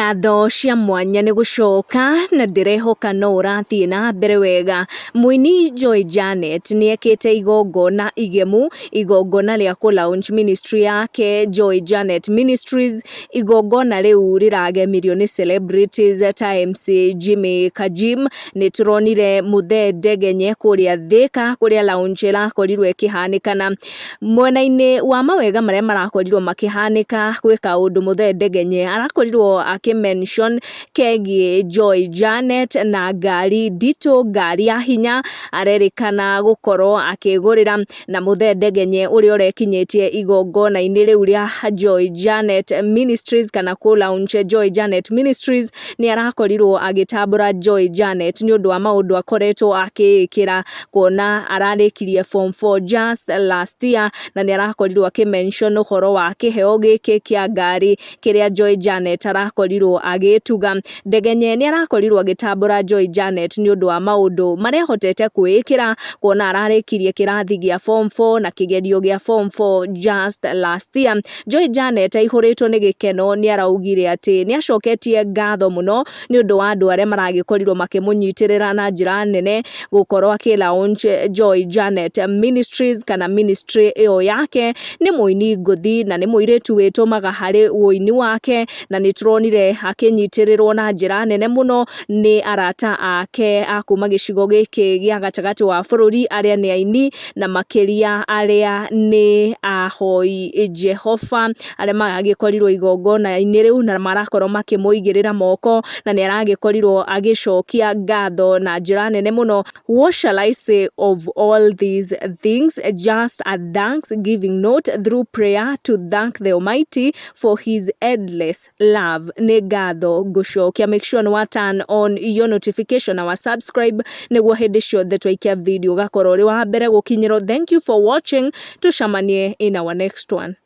Ngatho cia mwanya nĩ gũcoka na ndĩrehoka no ũrathiĩ na mbere wega. Mũini Joy Janet nĩ ekĩte igongona igemu, igongona rĩa kũ launch ministry yake Joy Janet Ministries. Igongona rĩu rĩragemirio nĩ celebrities ta MC Jimmy Kajim. Nĩ tũronire Muthee Ndegenye kũrĩa Thĩka kũrĩa launch ĩrakorirwo ĩkĩhanĩkana. Mwena-inĩ wa mawega marĩa marakorirwo makĩhanĩka gwĩ kaũndũ Mũthee Ndegenye arakorirwo akĩ mention kegiĩ Joy Janet na ngari nditũ, ngari ya hinya arerĩkana gũkorwo akĩgũrĩra. Na Mũthee Ndegenye ũrĩa ũrekinyĩtie igongona-inĩ rĩu rĩa Joy Janet Ministries kana kũ launch Joy Janet Ministries, nĩ arakorirwo agĩtambũra Joy Janet nĩ ũndũ wa maũndũ akoretwo akĩĩkĩra kuona ararĩkirie form 4 just last year na nĩ arakorirwo akĩ mention ũhoro wa kĩheo gĩkĩ kĩa ngari kĩrĩa Joy Janet arakorirwo agĩtuga. Ndegenye nĩ arakorirwo agĩtambũra Joy Janet nĩ ũndũ wa maũndũ marĩa ahotete kwĩĩkĩra kuona ararĩkirie kĩrathi gĩa form 4 na kĩgerio gĩa form 4 just last year. Joy Janet aihũrĩtwo nĩ gĩkeno nĩ araugire atĩ nĩ acoketie ngatho mũno nĩ ũndũ wa andũ arĩa maragĩkorirwo makĩmũnyitĩrĩra na njĩra nene gũkorwo akĩ launch Joy Janet Ministries kana ministry ĩyo yake. Nĩ mũini ngũthi na nĩ mũirĩtu wĩtũmaga harĩ ũini wake, na nĩ tũronire akĩnyitĩrĩrwo na njĩra nene mũno nĩ arata ake a kuma gĩcigo gĩkĩ gĩa gatagatĩ wa bũrũri arĩa nĩ aini na makĩria arĩa nĩ ahoi Jehova. arĩa maragĩkorirwo igongona-inĩ rĩu na marakorwo makĩmũigĩrĩra moko na nĩ aragĩkorirwo agĩcokia ngatho na njĩra nene mũno what shall I say of all these things just a thanks giving note through prayer to thank the Almighty for his endless love nĩ ngatho ngũcokia make sure nĩ wa turn on your notification na wa subscribe nĩguo hĩndĩ ciothe twaikia video ũgakorwo ũrĩ wa mbere gũkinyĩrwo thank you for watching tucamanie in our next one